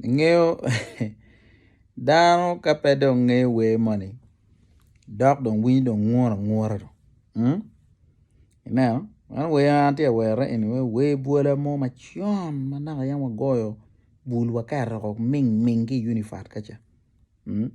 Ingeyo dano ka pe dong ngeyo wer moni dok dong winyo dong ngura ngura dong. Ineno, man wer ma atye ka werone eni wai wer bwola mo macon ma naka yam wagoyo bul waketo woko ming ming ki i unifat ka ca mm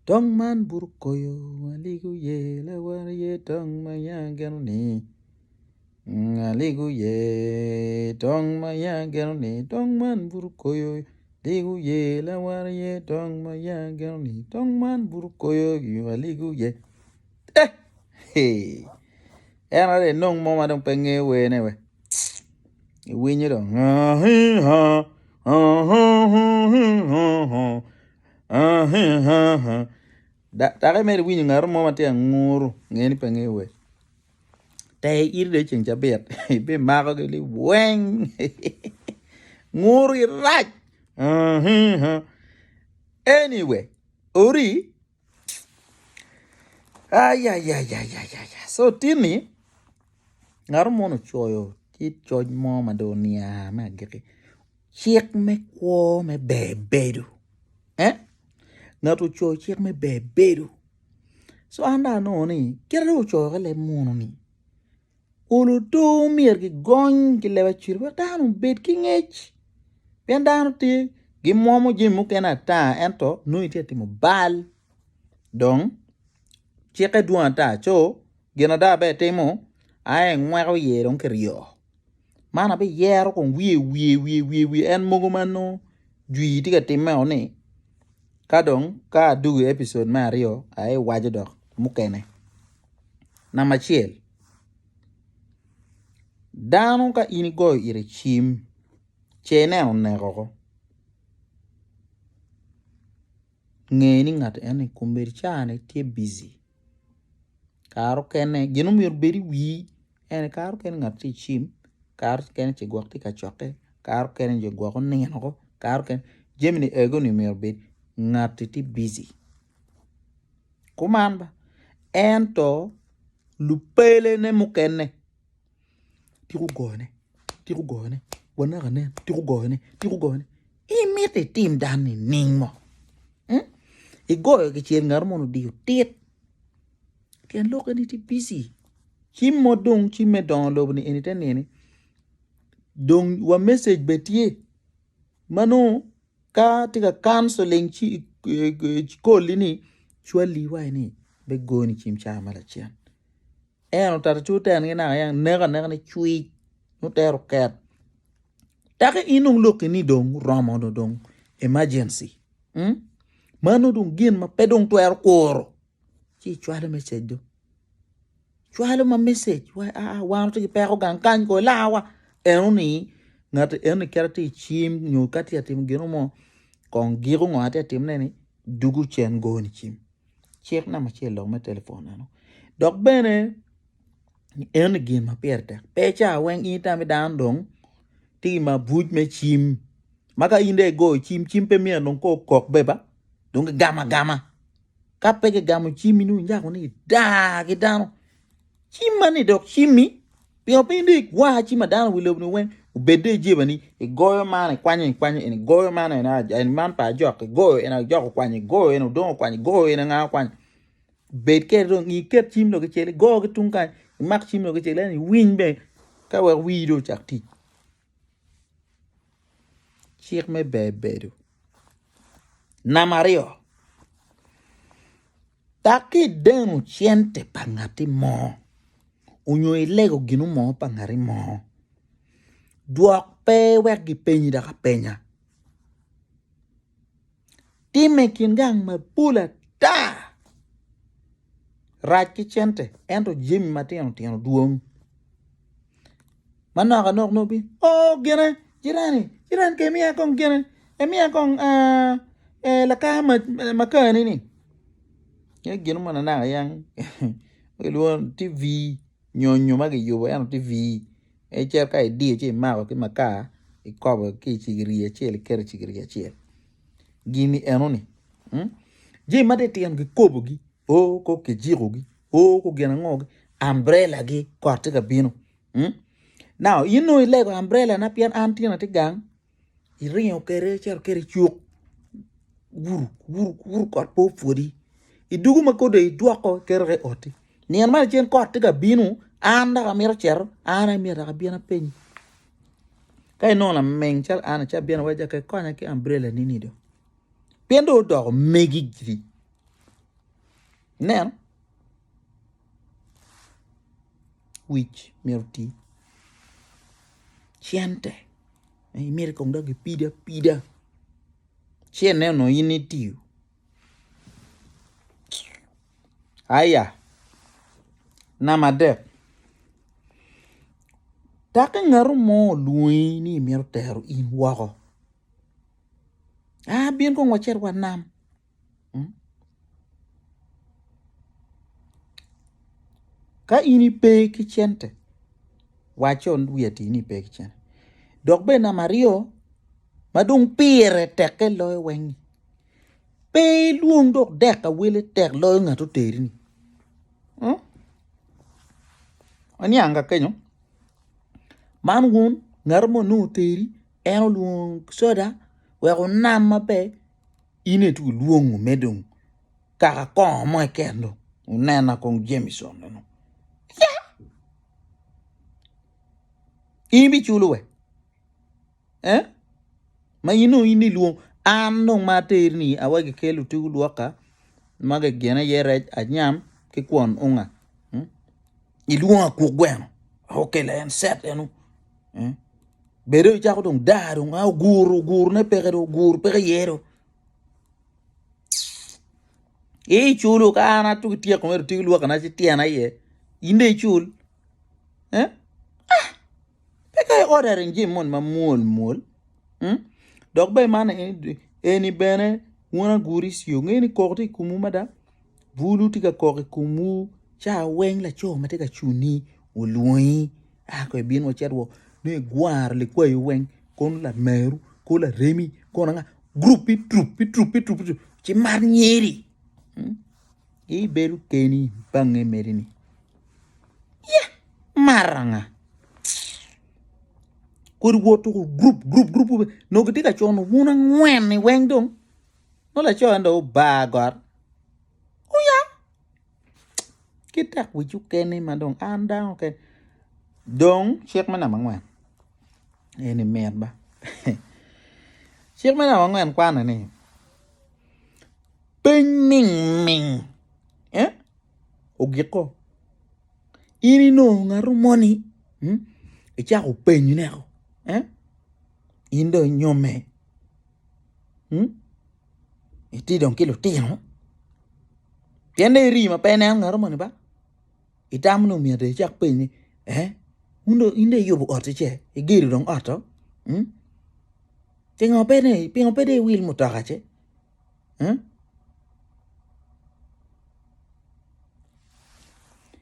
tong man buto koyo aligo ye lawote ye tong ma ya geno ni mm aligo ye tong ma ya geno ni tong man buto koyo aligo ye lawote ye tong ma ya geno ni tong man buto koyo aligo ye. Eh, hey. En are nong mo ma dong pe ngeyo wene we. Iwinyo dong. Dake mere iwinyo ngaro mo ma tye anguru, ngeni pe ngeyo we. Te iri de ceng cabit, ibi mako gi li weng. Nguru irac. Anyway, ori Ayayayaya so tinni ngato moni ocoyo tye coc mo ma dong onia me agikki cik me kwo me ber bedo eh ngato ocoyo cik me ber bedo so an dong anongo ni kit ma dong ocoyokkei leb munu-ni. Olo otur myero gigony ki leb acel wek dano obed ki ngec pien dano tye gimwomo jami mukene ata ento nongo itye ka timo bal dong cikke dwong ata co gin ada ma itimo aye ingweko iye dong kiryo. man abiyero kong wiye wiye wiye wiye wiye en mogo ma nongo jwi tye ka timme o ni ka dong ka adugo i episode me aryo aye iwaco dok mukene namba acel dano ka in igoyo ite cim ce ineno oneko oko nge ni ngat eni kombeddi caa ni tye bici kare okene gin ma myero obed i wii En aye kare mukene ngat tye ka cim, kare mukene ce gwok tye ka cokke, kare mukene ce gwok onino woko, kare mukene jami ni ego ni myero obed ngati tye bici. Kuman ento lupelene mukene tiko goyone, tiko goyone, wanen anen tiko goyone, tiko goyone. In miti itim dan nining mo? Igoyo kicel ngat moni odiyo tit. Pien lok eni tye bici. Ci mo dong ci me dongo lobo ni eni te nini dong wa message be tye ma nongo ka tye ka counseling ci koli ni cwali iwaci ni be goni cim ca ma lacen en otito ci oten gi naka ya neko aneka ni cwiny nongo tero ket taki in dong loki ni dong oromo dong emergency mano dong gin ma pe dong twero kuro ci icwalo message do cwalo ma message wa a ah, wan to gipeko gang kany ko lawa eno ni ngat eno ni kera ti chim nyo ka ti atim gino mo kong giko ngo ati atim ne ni dugu cen go ni chim cik na macel lok me telefon eno dok bene eno ni gin ma pire tek pe cha weng ini tami dan dong ti ma buj me chim maka inde go chim chim pe miyo dong ko kok beba dong gama gama ka pe kigamo cimmi ni onyako ni idaa ki dano cimma ni dok cimmi pingo piny dong igwar cim ma dano wi lobo ni weng obed dong ijebani igoyo man ikwanyo ikwanyo eni igoyo man eni aja eni man pa ajok igoyo eni ajok okwanyo igoyo eni odong okwanyo igoyo eni anga okwanyo bed keri dong ngi iket cim dong kicel igo ki tung kany imak cim dong kicel ento iwiny bene ka wek wii dong ocak tic Cik me ber bedo. Namba aryo, dok ki i deno cente pa ngati mo onyo i lego gino mo pa ngati mo, dwok pe wek gipenyi dok apenya. Timme i kin gang mapol ata. Rac ki cente ento jami matino tino dwong. Manok anok nongo bino oh gine jirani jirani kong imiya kong gine imiya kong lakar makar ni-ni. Gin mogo nanak aye an kilwongo ni TV. nyonyo ma kiyubo ento tye vii en cito ka idiyo ci imako ki makar ikobo ki i cigiri acel iketo i cigiri acel gini enoni jami ma titino kikobogi o ko kijikogi o ko gin ango ambrelagi kot tye ka bino nau in onongo ilego ambrelana pien an tyena tye gang. iringo kwede icito kwede i cuk guru guru guru kot pe opwodi idwogo ma kodi dong idwoko iketo ki i oti nino ma lacen kot tye ka bino an dok amito cito an aye myero dok abin apenyi ka inongo lameng calo an ni ci abino awaco calo ikonya ki ambrela ni ni dong pien dong odoko megi giri ineno. wic myero oti cente myero kong dok kipid apida cente onongo in itiyo aya namba adek dok ka ngato mo olwongi ni myero otero in woko a bin kong wacit wanam. Ka in ipe ki cente, wacco wi ati ni ipe ki cente dok bene namba aryo ma dong pire tekke loyo weng-nyi pe ilwong dok dek ka wele tek loyo ngat ma oteri-ni. Oniang ka kenyo man wun ngat ma onongo oteri en olwongo soda wek onam maber In aye twero lwongo me dong kaka kongo mo keken dong onena kong Jameson meno. Ya! In ibiculo we? Eh? Ma in dong in ilwong an dong ma aterni awa gikelo tugu lwoka ma gigene iye rec anyam ki kwon unga. Hmm? Ilwongo akuk gweno. Okela en set enu. Hmm? bedo i cako dong daa dong a ogur ogur ne peke dong ogur peke iye dong i cul ka an atuk ityeko mere otigo lwaki na ci tyena iye in dong icul eh ah peke i ordering jami moni ma mwol mwol dok bene man eni bene wun aguri ci wungeyo ni koko tye i komwu mada bulu tye ka kok i komwu ca weng laco ma tye ka cuni olwongi. A kong ibin wacit wa nongo igwaro likwayo weng kono lameru kono laremi kono anga group i troop i troop i troop ci mar nyeri hmm? ibedo keni bange meri ni ya maranga kodi woto ko group group group no gitye ka cono wun angwen ni weng dong no laco en dong obar got oya ki tek wic okene ma dong an dano kene dong cik me namba angwen eni mit ba cik me namba angwen kwane ni piny ningning ogiko in inongo ngato moni icako penyone in dong inyome. itye dong ki lutino pien dong iri ma pe ineno ngat moni ba itamo nongo omiyo adong icak penyi in dong in dong iyubo otti ce igedo dong ot to pingo pe dong pingo pe dong iwil mutoka ce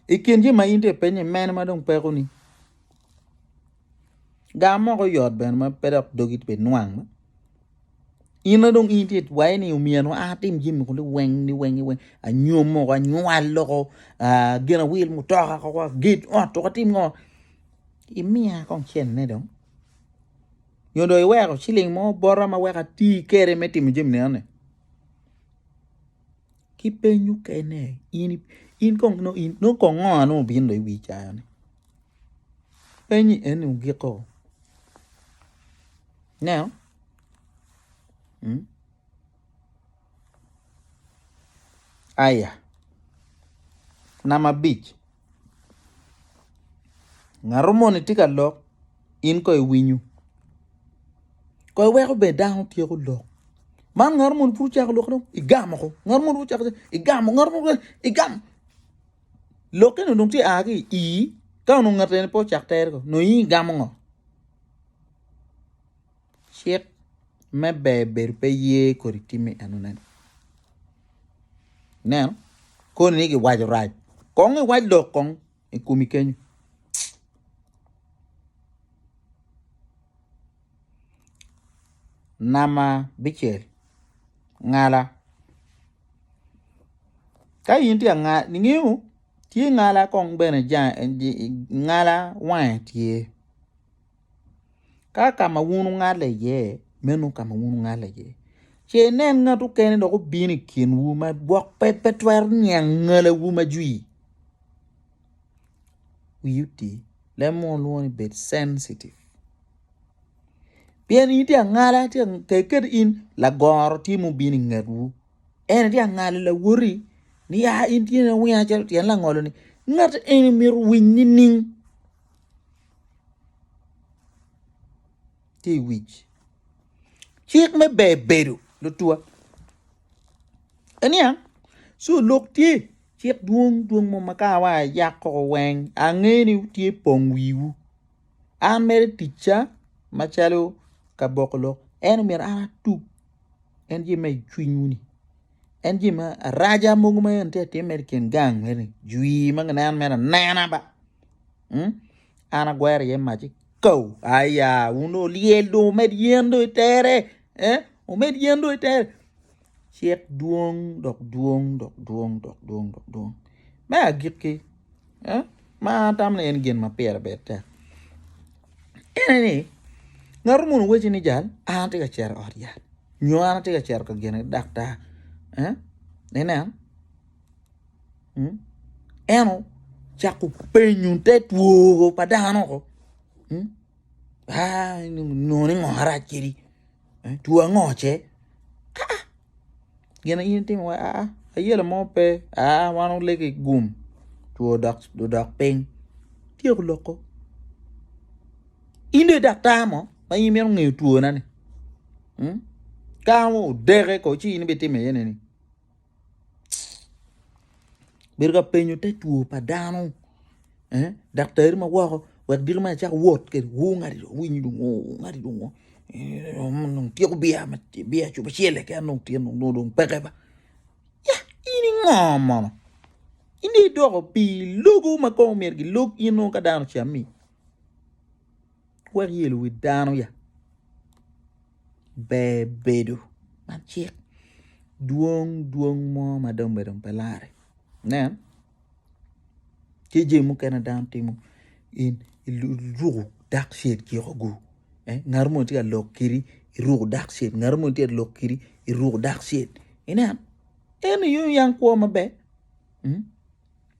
i kin jami ma in dong ipenyo-ni mene ma dong peko ni. Gar moko yot bene ma pe dok dogi pe nwang ma in dong in tye itwaye ni omyero an atim jami kuni weng ni weng ni weng anyom moko anywal loko gin awil mutoka koko aged ot koko atim ngo imiya kong cente dong nyo dong iweko ciling mo bota ma weko ati kwede me timo jami nenoni. ki peny mukene in kong nongo kong ngo ma obino i wi cawa ni penyi eni ogiko ineno aya namba abic. Ngato moni tye ka lok in kono iwinyo kono iweko ber dano tyeko lok man ngato moni pud ocako lokke dong igamo woko ngato moni pud ocako lokke igamo ngato moni ocako lokke igamo lokke ni dong tye aa ki i ii ka onongo ngati eni pe ocako tere ko nongo in igamo ngo. Cik me ber bedo pe ye kodi timmi enoni. Nen koni ni giwaco rac kong iwac lok kong i komi kenyo. Namba bicel ngala ka in tye angal ingeyo tye ngala kong bene jange ngala wange tye. Ka ka ma wun wungale iye, meno ka ma wun wungale iye. Ce inen ngat mukene dok obino i kinwu ma gwok pe twero niang ngalewu ma jwi. Wiyi oti, leb munu lwongo ni bed sensitive pien in itye ka ngala, tek kede in lagoro tye ma obino i ngetwu, en aye tye ka ngalo lawoti ni a in tye iwinyo calo tyen langolo-ni, ngati eni myero owiny nining? tye i wic cik me ber bedo lutwa en niya ci olok tye cik dwong dwong mo ma ka awa ayak koko weng ange ni tye pong wiwu an mere ticca macalo ka boko lok en omyero an atug en tye ma icwinywu ni En jami ma araja mogo ma en tye ka timme i kin gang meno-ni jwi ma kineno mere anena ba an agwero iye mac ci kau aya wun dong wulyel dong wumed yen dong itere wumed yen dong itere cik dwong dok dwong dok dwong dok dwong dok dwong me agikki. ma an atamo ni en gin ma pire bed tek ene ni ngato munu wacci ni jal an atye ka cito i ot yat nyo an atye ka cito ka gene daktar ineno en ocako penyo te two pa dano-o nongo ni ngo arac kwedi. two ango ce aa gin in itimo wa aa ayelo mo pe aa wan olego igum two odok ping tyeko loko in dong idaktar mo ma in imito ngeyo twona ni kara mo odeke ko ci in ibitimo iye ne ni. Bedo ka penyo te two pa dano daktari ma woko wek dito ma icako wot kwede woo ngati dong owinyo dong woo woo ngati dong woo dong tyeko biya ma biya cobo acel keken aye dong tye nongo dong peke ba yah in ingo mono in dong idoko pi logo ma kono myero gilog in nongo ka dano ocammi. wek yelo wi dano ya ber bedo man cik dwong dwong mo ma dong obedo pe lare nen tye jami mukene dano timo in iruko dark shade ciko gu eh ngat mo tye ka lok kiri iruko dark shade ngat mo tye ka lok kiri iruko dark shade ineno eno i yung yang kwo maber.